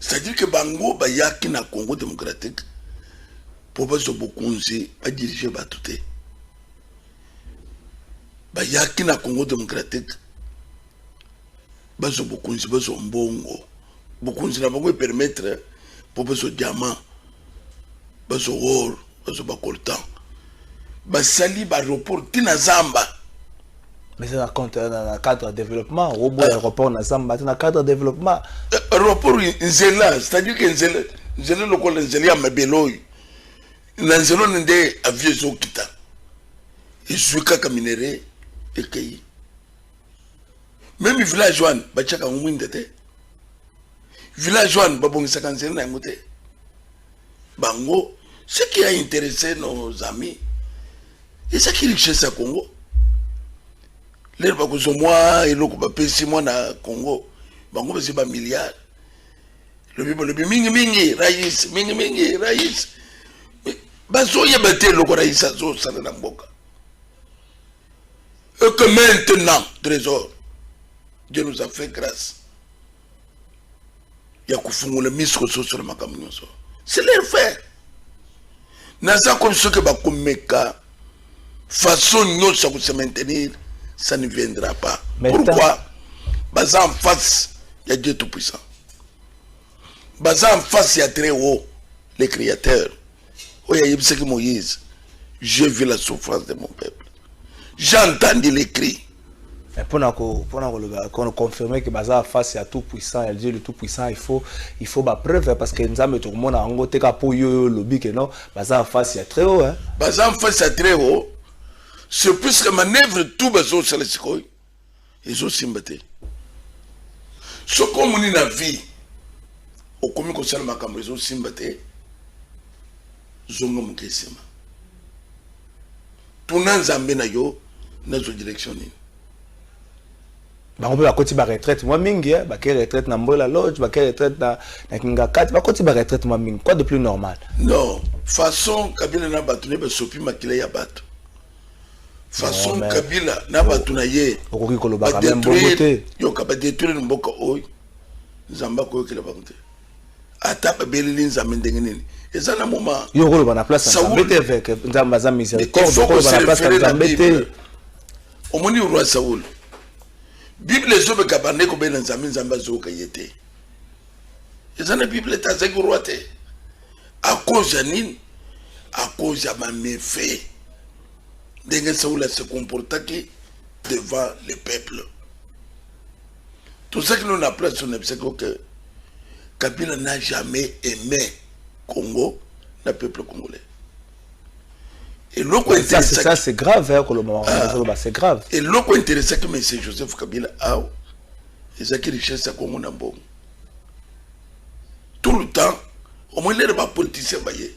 c'est à dire que bango bayaki na congo démocratique mpo bazwa bokonzi badirige bato te bayaki na congo démocratique bazwa bokonzi bazwa mbongo bokonzi na bango epermettre mpo bazwa diamant bazo wor bazo ba coltan basali ba report ti na zamba mais c'est na compte na cadre ya développement oboya euh. aéroport na zamba ti na cadre ya développement euh, aéroport nzela c'est à dire que nzela nzela lokola nzela ya mabele oyo na nzela oyo nde avion ezokita ezwi kaka minere ekei meme village wana batyaka yango mwinda te village wana babongisaka nzela na yango te bango ce qui a intéressé nos amis ezaki richesse ya congo lelo bakozwa mwa eloko bapesi mwa na congo bango bazwi bamilliard lobi balobi mingimingi rais mingimingi rais bazoyeba te eloko rais azosala na mboka et que maintenant trésor dieu nous a fait grâce ya kofungola miso kososola makambo nyonso c'est leur faire naza komi soki bakomeka façon nyonso ya kose maintenir ça ne viendra pas pourquoi baza en face ya dieu tout puissant baza en face ya très haut le créateur oyo ayebisaki moïse j'ai vu la souffrance de mon peuple j'ai entendu les cris eh, mpo na confirmer que baza face ya tout puissant ya dieu le tout puissant il faut il faut bapreuve parce que nzambe tokomona yango te ka mpo yo olobi ke non baza face ya très haut hein. baza face ya très haut c'est plus que manœuvre tout bazosala sikoyo ezosimba te soki omoni na vie okomi kosala makambo ezosimba te zonga moke nsima tuna nzambe na yo nazwa direction nini bango mpe bakoti baretraite mwa mingi eh, bakei retraite na mbola loge bakei retraite na, na kingakati bakoti baretraite mwa mingi quoi de plus normal non façon kabila na bato nde basopi makila ya bato façon non, kabila na bato na ye okoki kolobaka meme bongo te yoka badetruire mboka oyo nzambe akoyokela bango te ata babeleli nzambe ndenge nini eza na moma yo okoloba na place nzambe te eveke nzambe aza miséricorde okoloba na place nzambe te omoni roi saul bible ezobeka bande kobela nzambe nzambe azoyoka ye te eza na bible te azalaki roi te à cause ya nini à cause ya bameve ndenge saula se comportaki devant le peuple tozalaki no na place oyo nayebisaki oke kabila n'a jamais aimé congo na peuple congolais eloko ça c'est grave hein, koloba ah. c'est grave eloko interesaki monsieur joseph kabila awa ezalaki richesse ya congo na mbongo tout le temps omoni lelo bapoliticien baye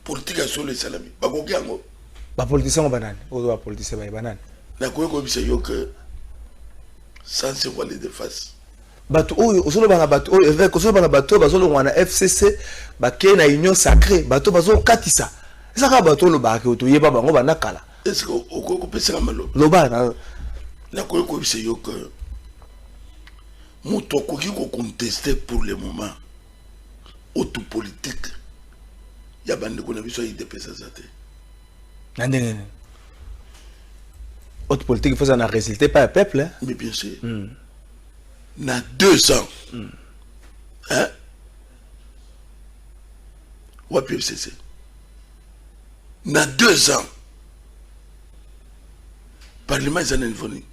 politike ya solo esalami bakoki yango bapoliticien ngo banani oyo bapoliticien baye banani nakoki koyebisa yo ke sans se voiler de face bato oyo ozoloba na bato oyo évêque ozoloba na bato oyo bazolongwa na fcc bakei na union sacré bato bazokatisa eza kaka bato olobaka ke toyeba bango banda kala eske okoki kopesaka maloba loba na nakoki koyebisa yo ke moto akoki ko conteste pour le moment auto politique ya bandeko na biso ya idps aza te na ndenge nini auto politique ifo eza na résultat epai ya peuple hein? mais bien sûr mm. na deux ans mm. hein? wapi fcc na deux ans parlement eza na niveau nini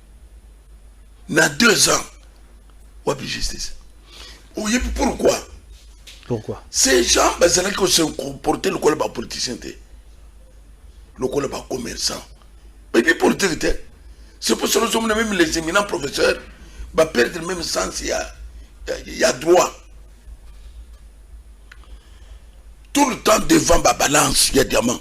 na deux ans wapi justice oyebi pourquoi pourquoi ces gens bazalaki kose comporte lokola bapoliticien te lokola bacommerçant bayebi politique te c'est pour cela ozomona même les éminents professeurs baperdre même sens ya, ya, ya droit tout le temps devant babalance ya diamant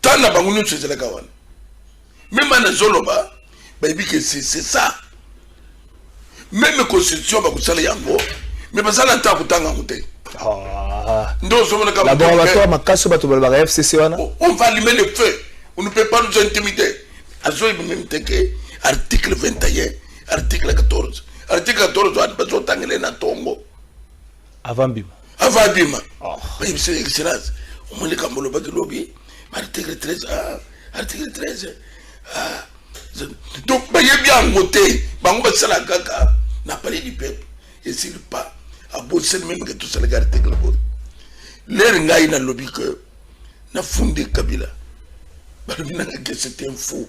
temps na bango nyonso ezalaka wana meme ana ezoloba bayebi ke c'est ça meme constitution bakosala yango me bazala nta kotanga yango te ah. nde ozomonakabato makasi bato balobaka fcc wana oh, on va allumer le feu on ne peut pas nous intimider azoyebi meme te ke article 21 article 14 article 14 wana bazotangele na tongo avant bima avant bima oh. mais monsieur excellence au moins les cambolo ba lobi article 13 ah, article 13 ah. donc ba yebi yango te bango ba sala kaka na palais du peuple et s'il pas a beau c'est même que tout ça les article bo l'air ngai na lobi que na fondé kabila ba lobi na que c'était un faux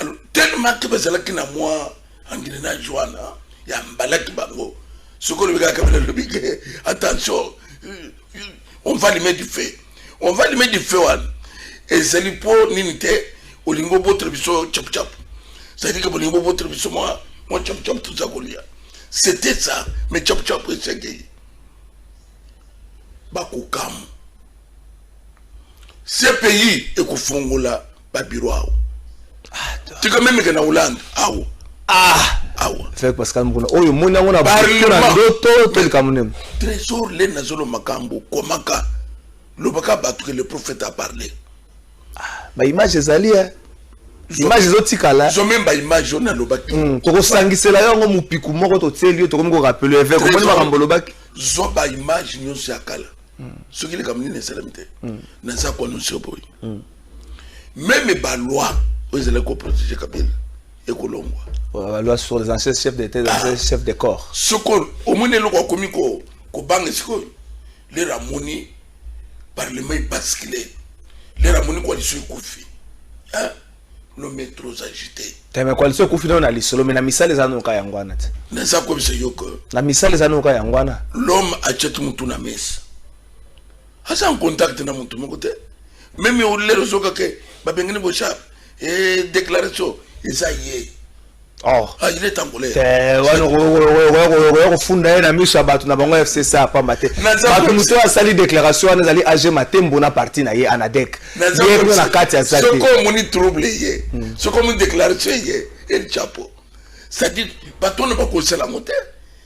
alors tellement que bazalaki na mwa engrenage wana ya mbalaki bango soki olobi kaka kabila lobi ke attention euh, euh, on va limer du feu on va limer du feu wana ezali mpo nini te olingi obotela biso chapuchapu cetadire ke bolingi bobotela biso mwa mwa chapuchapu toza kolia c'était ça mais chapuchapu esengeli bakokamu cpi ekofongola ba bureau awo tika meme ke na hollande awo ah awa fek pascal mukuna oyo omoni yango na ndoto to likambo nini trésor le nazolo makambo komaka lobaka bato ke le prophète a parle ah, baimage ezali e image ezotikala zo meme baimage oyo nalobaki hmm, tokosangisela yo yango mopiku moko totieli yo tokomi korapele evek omoni makambo olobaki zo baimage nyonso ya kala hmm. soki likambo nini esalami te hmm. naza koanonse boye meme ba loi oyo ezalaki koprotege kabila ekolongwa ba loi sur les anciens chefs d'état les anciens chefs de corps sikoyo omoni eloko akomi kobanga sikoyo lelo amoni parlement ebaskile lelo amoni koalition ekufi lome trop agité teme koalition ekufi nao na lisolo me na misala eza noka yango wana te naza koyebisa yo ke na misala eza noka yango wana lome achete motu na mesa aza en contact na moto moko te meme olelo soka ke babengani boshab e déclaration eza ye or ah, il est angolais okoya kofunda ye na miso ya bato na bango ya fcc apamba te bato moto oyo asali déclaration wana ezali age matembo na parti na ye anadek ye kuna na kati ya zate soki omoni trouble ye hmm. soki omoni déclaration ye el chapeau c'est-à-dire bato wana bakosala yango te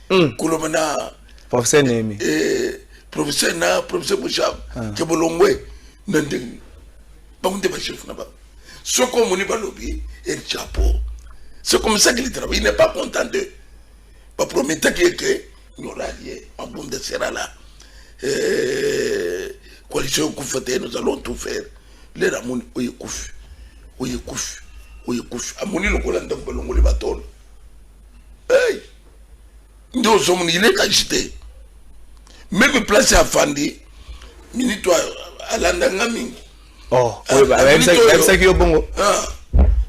hmm. koloba na professeur nemi eh, professeur na professeur boshab ah. ke bolongwe na ndenge bango nde bachef na bango soki omoni balobi el chapeau c'est comme ça qu'il travaille il n'est pas content de baprometaki ete nyoralie mabunda sera là eh, coalition ekufa te nous allons tout faire lelo amoni oyo ekufi oyo ekufi oyo ekufi amoni lokola ndako balongoli batolo hey! nde ozomona il est agité meme place ya fandi minute alanda nga mingi oh, ayebisaki yo bongo ah,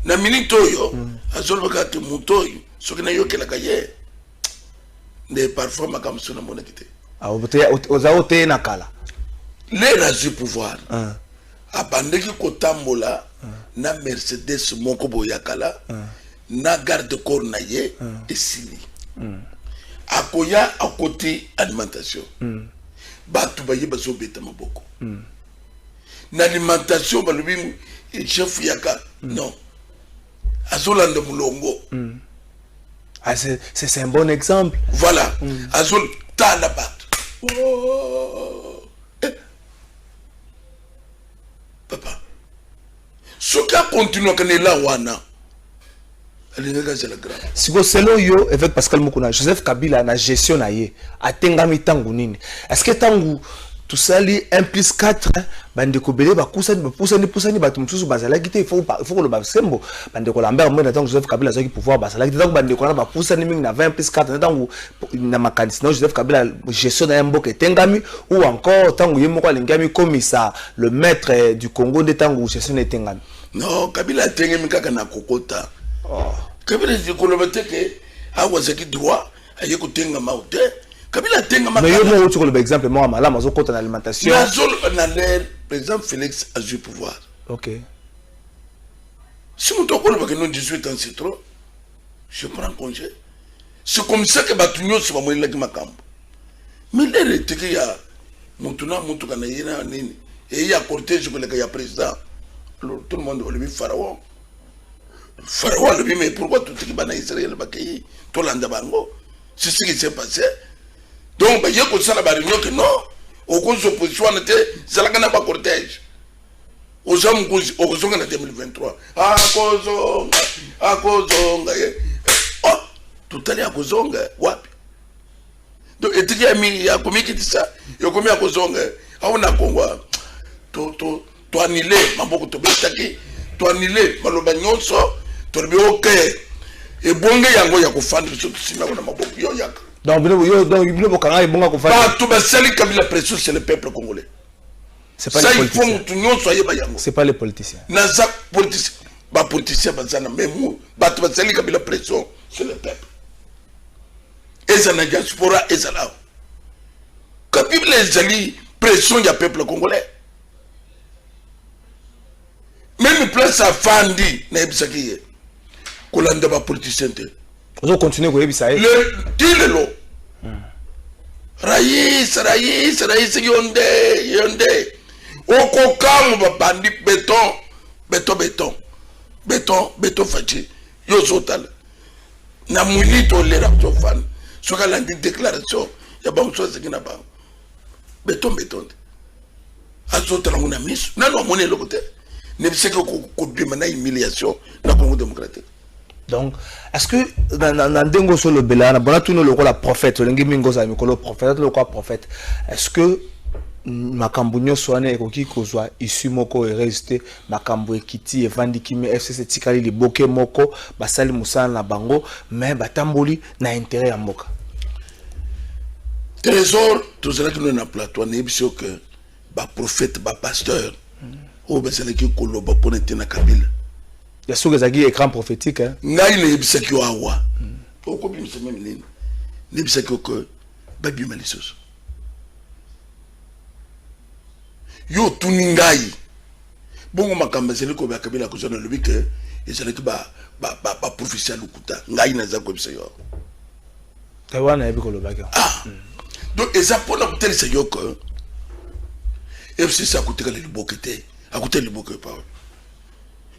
na minute oyo hmm. azolobaka te moto oyo soki nayokelaka ye nde parfois makambo so namonaki te ah, oza oteyenakala le nazwi pouvoir ah. abandaki kotambola na mercedes moko boye ya kala na garde corps na ye esili akoya akoti alimentation bato baye bazobeta maboko na alimentation balobi chef yaka non azolanda molongo mm. ah, c'est un bon exemple voilà mm. azotala bato oh. papa soki akontinuaka na ela wana alingaki azala grave siko selon yo évêque pascal mokuna joseph kabila na gestion na ye atengami ntango nini est ce que ntango tosali 1 plus 4 bandeko ebele bakusani bapusani pusani bato mosusu bazalaki te ifo koloba sembo bandeko lambert mwenda ntango joseph kabila azwaki pouvoir bazalaki te ntango bandeko wana bapusani mingi na 20 plus 4 na ntango na makanisi na joseph kabila gestion na ye mboka etengami ou encore ntango ye moko alingi amikomisa le maître du congo nde ntango gestion na etengami non kabila atengemi kaka na kokota oh. kabila koloba te ke awa azalaki droit aye kotengama o te kabila atengama mais yo moko oti koloba exemple moko malamu azokota na alimentation nazoloba na lere par exemple félix azwi pouvoir ok si moto akolobaka no 18 ans c'est trop je prends congé c'est comme ça que bato nyonso bamonelaki makambo milere eteke ya motu na motuka na ye na nini eye ya cortège koleka ya président alors tout le monde olobi pharaon pharaon alobi mais pourquoi totiki bana israel bakei tolanda bango c'est ce qui s'est passé donc baye kosala bareunion ke non okozwa position wana te zalaka na bacortège oza mokonzi okozonga na 2023 akozonga akozonga ye oh, totali akozonga wapi donc etiki ya mingi ya komikitisa yokomi akozonga awo na kongo toanile maboko tobetaki toanile maloba nyonso tolobi oke ebonge yango ya kofanda biso tosimi yango na maboko yo yaka donc bino bokanga ebonga kofanda bato basali kabila pression c'est le peuple congolais C'est pas ça, les politiciens. Ça, il faut mutu ayeba yango. C'est pas les politiciens. Naza politicien. Ba politicien bazana même bato bazali kabila pression sur le peuple. Eza na diaspora eza là. Kabila ezali pression ya peuple congolais. meme place afandi nayebisaki ye kolanda bapoliticien te ozo continue koyebisa ye ti lelo rais rais rais yo nde yo nde okokamwa babandi beton beton beton beton beton faci yo ozotala na minute olera ozofana soki alandi déclaration ya bango so azeki na bango beton beton te azotala ngo na miso nano amoni eloko te nebiseke kobima na humiliation na congo démocratique donc est ce que na ndenge oso olobela wana bona tuna lokola prophète olingi mingi ozala mikolo prophète lokola prophète est ce que makambo nyonso wana ekoki kozwa issue moko heureuse te makambo ekiti evandi kimi fcc etikali liboke moko basali mosala na bango mais batamboli na intérêt ya mboka trésor tozalaki no na plateau nayebisi yo ke baprofete bapasteur oyo bazalaki koloba mpona ete na kabila ya soki ezalaki écran prophétique hein? ngai nayebisaki yo awa okobimisa meme nini nayebisaki yo ke babima lisusu yo otuni ngai Bongo makambo ezali kobela kabila kozwa na lobi ke ezalaki baprofesi ya lokuta ngai naza koyebisa yo wana yebi kolobaki ah. hmm. donc eza mpona kotalisa yo ke fcc akotikala liboke te akotala liboke epawa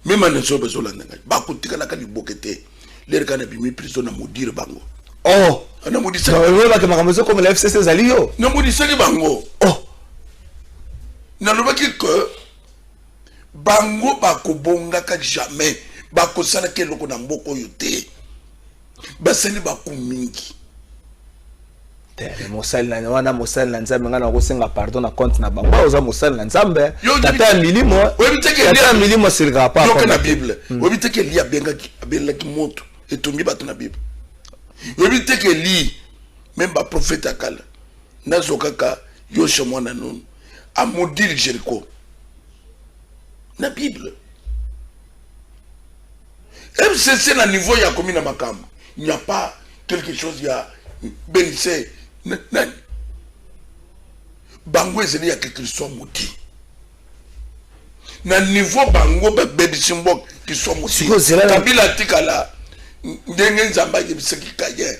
mema na nso bazolanda ngai bakotikalaka liboke te lere kani abimi prison na modire bango oh namodisaki makambo ezokomela fcc ezali yo namodisaki bango oh nalobaki ke bango bakobongaka jamais bakosalaka eloko na mboka oyo te basali baku mingi te mais mosali na wana mosali na nzambe ngai nakosenga pardon na compte na bango oza mosali na nzambe tata ya milimo tata ya milimo asilikaka pa yoka na bible hmm. oyebi te ke eli abengaki abelelaki moto etongi bato na bible oyebi te ke eli meme baprofete ya kala nazo kaka yosha mwana nunu amodile jeriko na bible MCC na niveau ya komi na makambo. Il n'y a pas quelque chose ya benise nani. Bango ezali ya quelque soit moti. Na niveau bango ba baby simbok qui sont moti. Kabila tikala ndenge nzamba yebisaki kaye.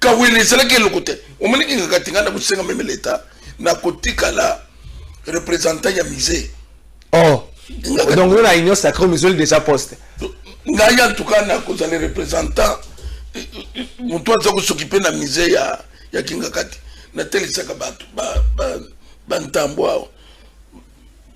kawele ezalaki eloko te omoni kingakati ngai nakosenga meme leta nakotikala représentant ya musée oh. donc yo na union sacré misoli déjà poste ngai en tout cas nakozala représentant motu aza kosokipe na musée ya, ya kingakati natelisaka bato bantambo ba, ba awa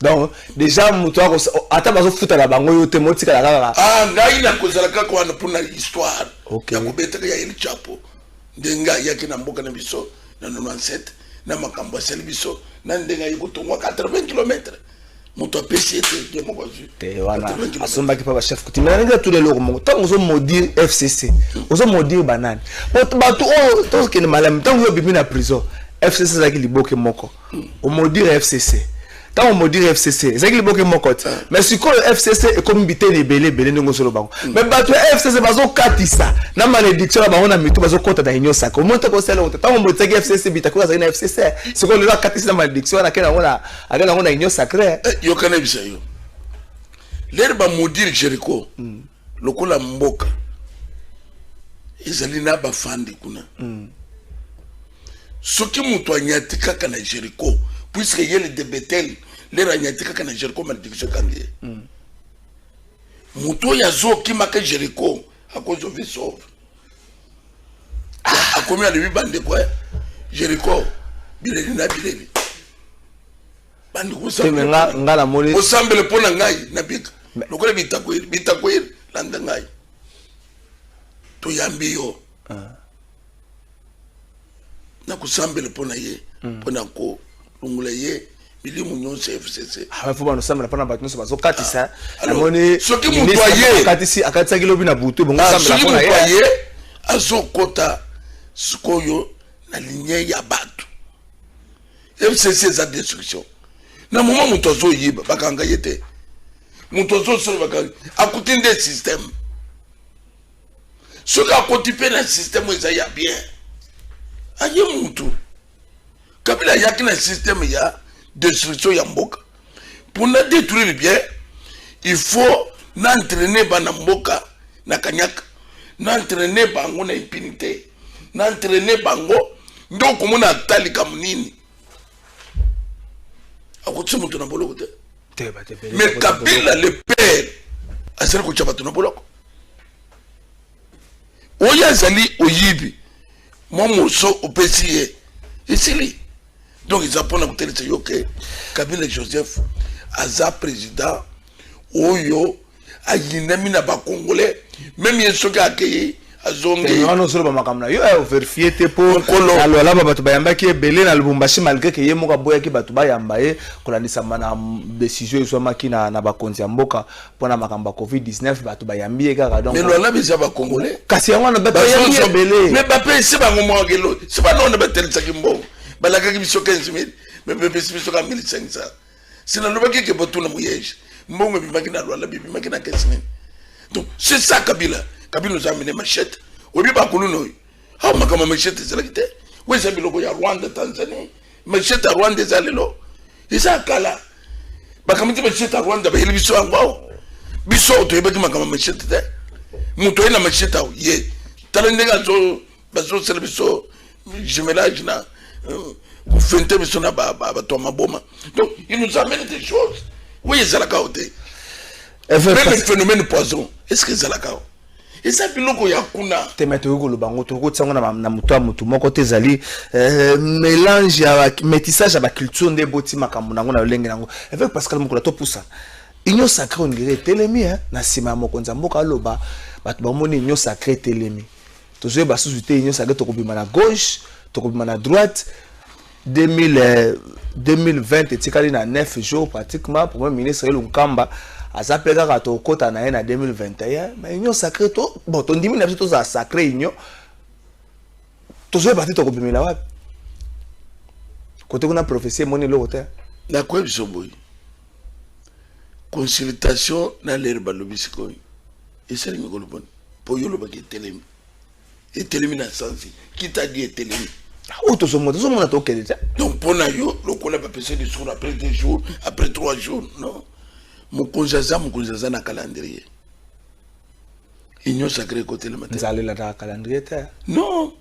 donc déjà moto ako ata bazofutaka bango yo te motikala kaka ah ngai nakozala kaka wana mpo na histoire okay. ya kobetaka ya el chapo nde ngai ayaki na mboka na biso na 97 na makambo asali biso na ndenge ayi kotongwa 80 kilometre moto apesi ye te ye moko azwi te wana asombaki mpa bachef kuti mai nalingi atuna eloko moko ntango ozomodire fcc ozomodire banani bato oyo tokende malamu ntango yo obimi na prison fcc ezalaki liboke moko omodire fcc ntango omodire fcc ezalaki liboke moko te mais sikoyo fcc ekomi biteni ebele ebele ndenge ozoloba ngo mais bato ya fcc bazokatisa na malédiction na bango na mitu bazokɔta na union saka omoni toko osala yango te ntango omotisaki fcc bitakoyo azali na fcc sikoyo lelo akatisi na malédiction wana akenda yango na akenda yango na union sacré yokana ebisa yo lere bamodire jericho mm. lokola mboka ezali na bafandi kuna mm. soki moto anyati kaka na jericho puiske ye le de betel lero anyati kaka na jericho malediction ekangi ye mm. moto oyo azokimaka jericho akozwa vie sauve ah, akomi alobi bandeko eh, jericho bileli na bileli bandi kozambela nga nga na moni ozambela mpo na ngai na bika lokola bitakweli bitakweli landa ngai toyambi yo ah. na kosambela mpo na ye hmm. mpo na kolongola ye bilimu nyonso ya fcc ah, fo banosambela mpo na bato nyonso bazokatisa ah, namoni soki moto aye akatisaki lobi na butu ebongosoki moto aye azokota sikoyo na linie ya bato mcc eza destruction na moma moto azoyeba bakanga ye te moto azosala bakanga akuti nde systeme soki akoti mpe na systeme eza ya bien aye motu kabila ayaki na systeme ya destruction ya mboka mpo na détruire bien il faut na entraîne bana mboka na kanyaka na entraîne bango na impunité na entraîne bango nde okomona ata likambo nini akotisi moto na boloko te mais kabila le père azali kotya bato na boloko oyo azali oyibi mwa moso opesi ye esili donc eza mpona kotelisa yo ke kabila joseph aza président oyo ayinami na bakongole meme ye soki akei azongiwana osoloba makambo na yo eh, overfie te mpo alwalaba bato bayambaki ebele na lubumbashi malgre ke ye moko aboyaki bato bayamba ye kolandisama na desizio ezwamaki na, na bakonzi ya mboka mpo na makambo ya covid-19 bato bayambi ye kaka donklwalaba eza bakongole kasi yango wana bato bayambi ebele me bapesi bango mwakelo se banona batelisaki mbongo balakaki biso 15 000 me bapesi biso ka 1500 si nalobaki ke botuna muyege mbongo ebimaki na lwala bibimaki na kesi nini donc c'est ça kabila kabila oza amene machete oyebi bakuluna oyo awa makambo ya machete ezalaki te oyo eza biloko ya rwanda tanzanie machete ya rwanda eza lelo eza kala bakamati machete ya rwanda bayeli biso yango awa biso toyebaki makambo ya machete te moto aye na machete awa ye tala ndenge azo bazosala biso jumelage na euh, kofente biso na bato ya maboma donc il nous amène des choses oyo ezalaka o te meme phénomène poison est ce que ezalaka o eza biloko ya kuna te me tokoki koloba yango tokoki kotia yango na moto ya motu moko te ezali euh, mélange ya métissage ya baculture nde eboti makambo na yango na lolenge na yango avec pascal mokola topusana union sacré ondire etelemi na nsima ya mokonzi ya mboka aloba bato bamoni union sacré etelemi tozoyeba susu te union sake tokobima na gauche tokobima na droite 2000, 2020 etikali na 9 jours pratiquement premier ministre ye lunkamba aza mpe kaka tokota na ye na 2021 ma union sacré to bon tondimi na biso tozala sacré union tozoyeba te tokobimela wapi kote kuna prophesie emoni eloko te nakoyebi biso boye consultation na lere balobi sikoyo esali mikolo boni mpo yo olobaki etelemi etelemi na sansi kitadi etelemi oyo tozomona tozomona tokende te donc mpo na yo lokola bapesa discours après deux jours après trois jours non mokonzi aza mokonzi aza na calendrier union sacré ekotelema te nzalelataka calendrier te non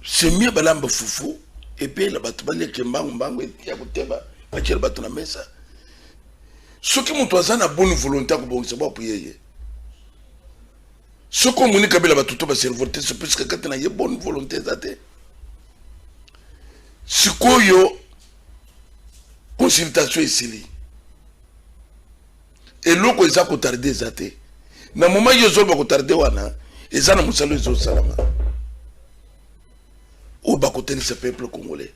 c'est mieux balamba fufu epeyela bato baleke mbangu mbangu ya koteba batyela bato na mesa soki moto aza na bonne volonté akobongisa bwapo yeye soki omoni kabila bato to baservote se puiske kati na ye bonne volonté eza te sikoyo consultation esili eloko eza kotarde eza te na moment yo ozoloba kotarde wana eza na mosala ezosalama oyo bakotelisa peuple congolais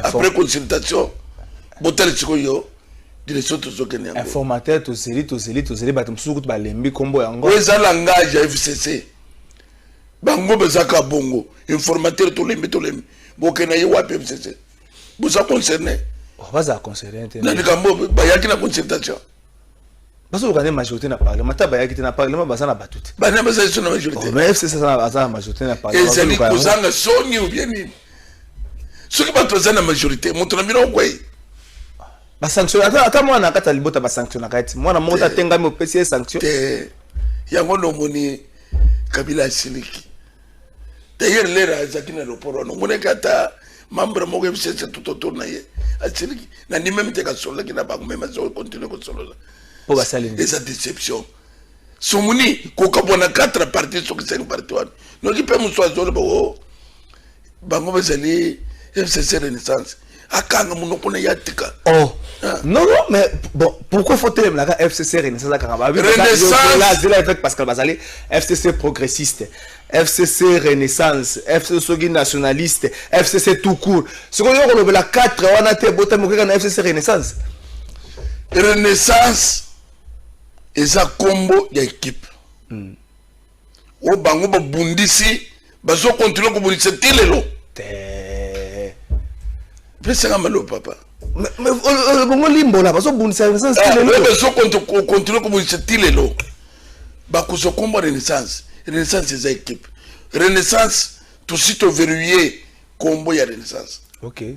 après consultation botali sikoyo direction tozokende yango informateur tozeli tozeli tozeli bato mosusu kutu balembi nkombo yango oyo eza langage ya fcc bango bazaka bongo informateur tolembi tolembi bokenda ye wapi fcc boza concerne oh, baza concerne te na likambo bayaki na consultation bazoluka nde majorité na parlement ata bayaki te na parlement baza na bato te bana bazali so na majorité mais fcc aza na majorité na parlement ezali kozanga soni ou bien nini soki bato baza na majorité moto na bino okwei basanction ata mwana na kati ya libota basanctionnaka ye ti mwana moko tatengami opesi ye sanction te yango nomoni kabila asiliki d'ailleurs lera azalaki na aéroport wana omonaki ata membre moko ya bisese tout autour na ye asiliki na ndi meme te kasololaki na bango meme azo continue kosolola mpo basali eza déception somoni kokabwa na 4 parti soki 5 parti wana noki mpe mosu azoloba o oh, bango bazali fcc renaissance akanga monoko na ye atika oh. ah. non non mais bon pourquoi faut telemelaka fcc renaissance akanga baazela effet pascal bazali fcc progressiste fcc renaissance fcc soki nationaliste fcc tout court sikoyo yo kolobela 4 wana te botami okeka na fcc renaissance renaissance eza nkombo ya ekipe mm. oyo bango babundisi bazokontinue kobundisa ti lelo pesaka malo papa bongo limbola bazobundisa bazokontinue kobundisa ti lelo bakozwa kombo renaissance renaissance eza ekipe renaissance tosi toverrouille kombo ya renaissance okay.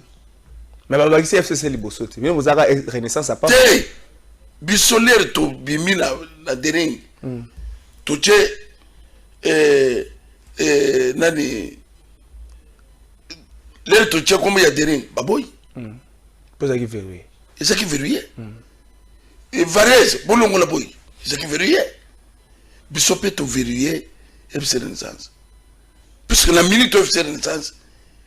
mais babakisi fcc liboso te bino bozalaka renaissance apa te biso lere tobimi na, na dering mm. totie eh, eh, nani lere totie kombo ya dering baboyi mm. po ezalaki verrouille ezalaki verrouille mm. e varese bolongola boyi ezalaki verrouille biso mpe toverrouille fc renaissance puisque na minute oyo fc renaissance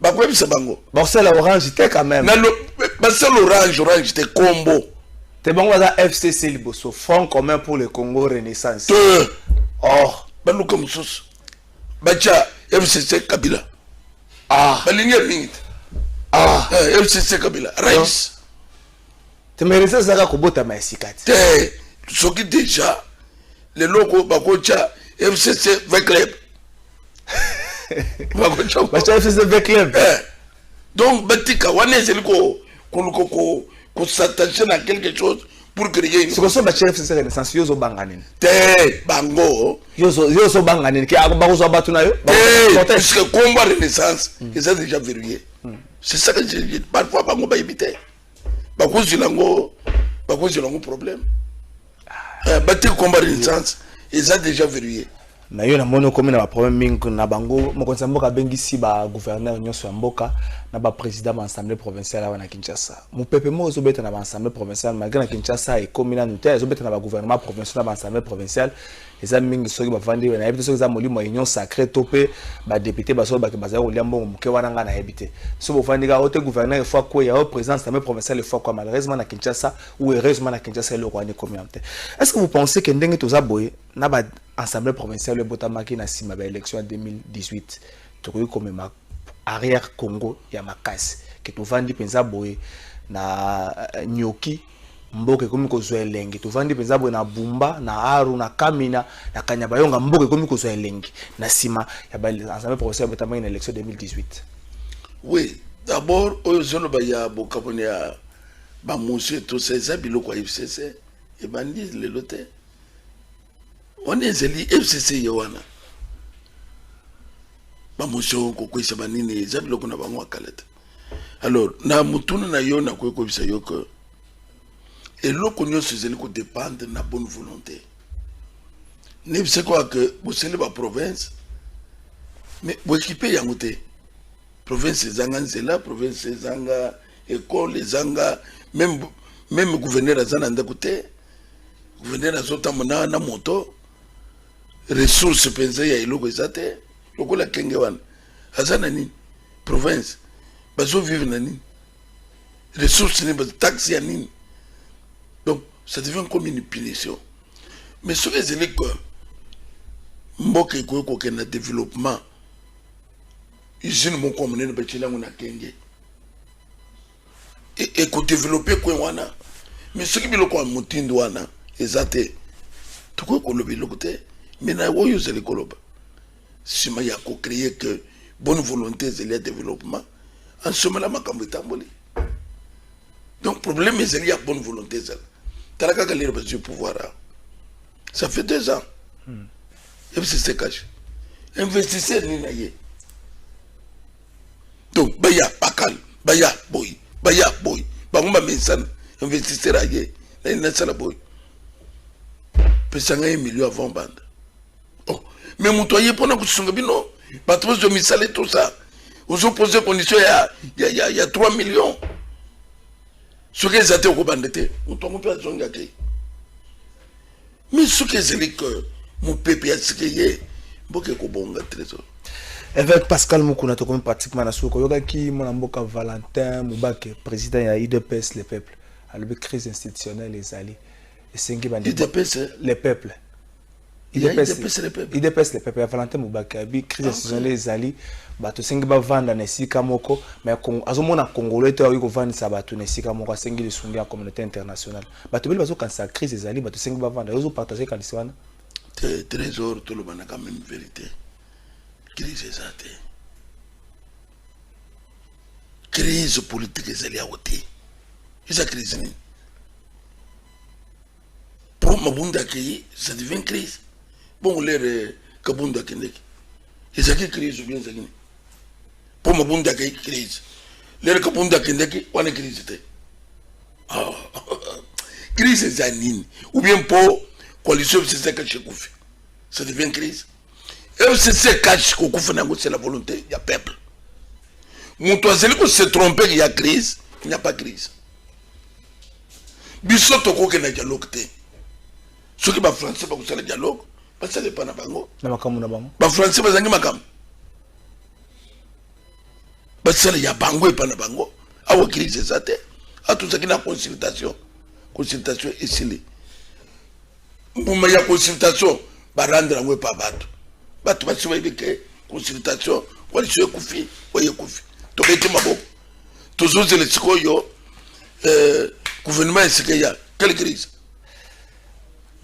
bakoyebisa bango bakosala orange te quand même basala orange orange te kombo te bango baza fcc liboso front commun pour le congo renaissance te or baluka mosusu batya fcc kabila ah. balingi ya mingi te ah. Eh, fcc kabila rais temerese ezalaka kobotama ya sika te te soki deja leloko bakotya fcc v club bakotya batya fcc v club Eh, donc batika wana ezali ko- koluka ko- kosattache na quelque chose pour créer une- sikoso batya fcc renaissance yo ozobanga nini te bango yo ozo- yo ozobanga nini Ke- ako- bakozwa bato na yo te Bakozwa- puisque combat renaissance eza déjà verrouillé c'est ça que je dis parfois bango bayebi te bakozela yango bakozela yango problème eh, bateki combat renaissance eza déjà verrouillé na yo namoni okomi na baproblème mingi na bango mokonzi ya mboka abengisi bagouverneur nyonso ya mboka na baprésident ba assemblée provinciale awa na kinshasa mopepe moko ezobeta na baassemblée provinciale malgré na kinshasa ekomi nanu te ezobeta na bagouvernement provincial na baassemblée provinciale eza mingi soki bavandi oyo nayebi te soki eza molimo ya union sacré to mpe badepute basoki bake bazali kolia mbongo moke wana ngai nayebi te soki bovandi kaka ote gouverneur efo akweya o présidence tame provincial efo akwa malheureusement na kinshasa ou heureusement na kinshasa eloko wana ekomi yango te est ce que vous pensez que ndenge toza boye na ba assemblée provinciale oyo ebotamaki na nsima ba élection ya 2018 tokoki komema arrière Congo ya makasi ke tovandi mpenza boye na euh, nyoki mboka ekomi kozwa elengi tovandi mpenza boye na bumba na aru na kamina na kanyabayonga mboka ekomi kozwa elengi na nsima ya baensemble professeur botamaki na élection 2018 oui d'abord oyo ozoloba ya bokaboni ya bamosi etosa eza biloko ya fcc ebandi lelo te wana ezali fcc ye wana bamotion kokweyisa banini eza biloko na bango ya kala te alors na motuna na yo nakoki koyebisa yo ke eloko nyonso ezali kodépendre na bonne volonté nayebisa kaka ke bosali baprovince mais boekipe yango te province ezanga nzela province ezanga ekole ezanga meme meme gouverneur aza na ndako te gouverneur azotambo na, na moto ressource mpenza ya eloko eza te lokola kenge wana aza na nini province bazovivre na nini ressource nini bataxe ya nini donc ça devient comme une punition mais soki ezali ko mboka ekoki kokende na développement usine moko ya monene batyeli yango na kenge ekodevelope e coin wana me soki biloko ya motindo wana eza te tokoki koloba eloko te me na oyo ozali koloba nsima ya kocreye que bonne volonté ezali ya développement ansomela makambo etamboli donc problème ezali ya bonne volonté ezala tala kaka lelo bazwi pouvoir awa ça fait deux ans hmm. ebisi se cache investisseur nini na ye donc baya bakal baya boy baya boy bango bamesana investisseur aye nani nasala boy pesa ngai million avant banda oh. me moto aye mpona kosunga bino bato bazwa misala etosa ozopose condition ya, ya, ya, ya 3 million soki eza te okobanda te moto yango mpe azongi ake Mais soki ezali que mopepe ya sika eye mboka ekobonga trésor évêque pascal mukuna tokomi pratiquement na suka oyokaki mwana mboka valentin mubake président ya udps le peuple alobi crise institutionnelle ezali esengi udps eh? le peuple idps le peuple ya valentin mubake abi crise ah, institutionnelle ezali bato esengi bavanda na esika moko mais azomona congolais te akoki kovandisa bato na esika moko asengi lisungi ya communauté internationale bato bele bazokanisa crise ezali bato esengi bavanda yo ozopartage kanisi wana trésor tolobanaka meme vérité crise eza te crise politique ezali yango te eza crise nini po mabunda akei ça devient crise bongo lere euh, kabunda akendeki ezalaki crise obien ezalaki nini po mabunda akei crise lere kabunda akendeki wana crise te Oh, crise eza nini ou bien mpo coalition fcc ekashi ekufi ça devient crise fcc ekashi kokufa na yango c'est la volonté ya peuple moto azali kose tromper ya crise il n'y a pas crise biso tokokenda dialogue te soki bafrançais bakosala dialogue basala epa na bango na makambo na bango bafrançais bazangi makambo basala ya bango epa na bango awa crise eza te atozaki na consultation consultation esili mbuma ya consultation barendre yango epa bato bato basi bayebi ke consultation waliso ekufi oyo ekufi tobeti maboko tozozela sikoyo eh, gouvernement esika ya quelle crise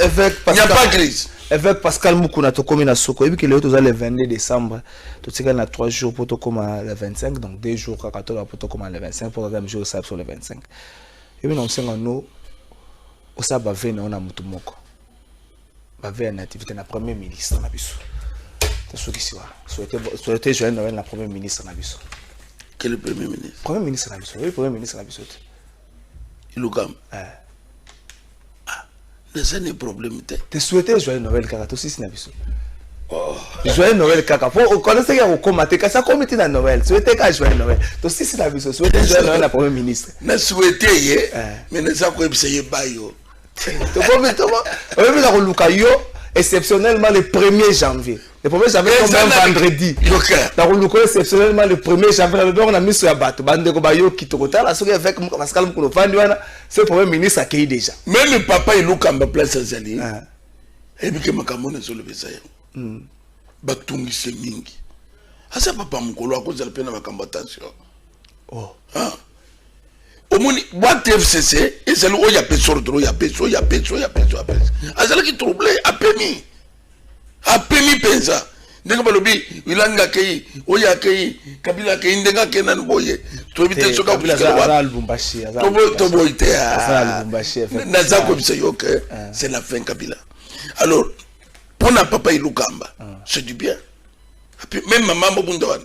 Évêque Pascal, pas crise. Évêque Pascal Mukuna tokomi na soko. Ebi kele toza le 22 décembre. To tika na 3 jours pour tokoma le 25 donc 2 jours kaka to pour tokoma le 25 pour kaka jour ça sur le 25. Ebi na osenga no osa ba ve na ona mutu moko. Ba ve na activité na premier ministre na biso. To soki siwa. Souhaiter souhaiter joyeux Noël na premier ministre na biso. Quel premier ministre? Premier ministre na biso. Oui, premier ministre na biso. ilukam eh. ah, naza ne problème te te souhaite joyeux noël kaka tosisi na biso oh. joyeux noël kaka po okonesaki ya kokoma te kasi akomi ti na noël souhaite kaka joyeux noël tosisi na biso souhaite joyeux noël na premier ministre na souhaite ye eh. mais naza koyebisa ye bayo oyebi na koluka yo exceptionnellement le 1er janvier le 1er janvier comme un vendredi na koluka exceptionnellement le 1er janvier nalobi yango na miso ya bato bandeko bayoki tokotala soki avec pascal mokolo vandi wana ce premier ministre akei déjà meme papa elukamba place azali ah. ayebike makambo wana ezoloba eza yango hmm. batungise mingi aza papa mokolo akozala mpe na makambo attention oh. ah. omoni bwate fcc ezali oyo ya peso ordre ya peso ya peso ya peso ya peso azalaki trouble apemi apemi mpenza ndenge balobi wilanga akei oyo akei kabila akei ndenge akei nani boye toyebi te soki akotoboyi te ah. naza koyebisa yo ke ah. c'est la fin kabila alors mpo na papa ilukamba ah. c'est du bien même mama mobunda wana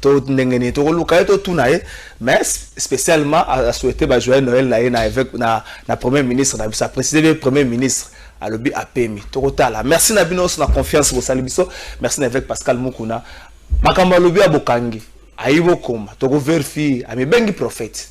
to ndenge nini tokoluka ye totuna ye mais spécialement asouhaite bajoyeux noël na ye na évêque na, na premier ministre na biso aprécise be premier ministre alobi apemi tokotala merci na bino nyonso na confiance bosali biso merci na évêque pascal mukuna makambo alobi ya bokangi ayi bokoma tokoverifie amibengi prophète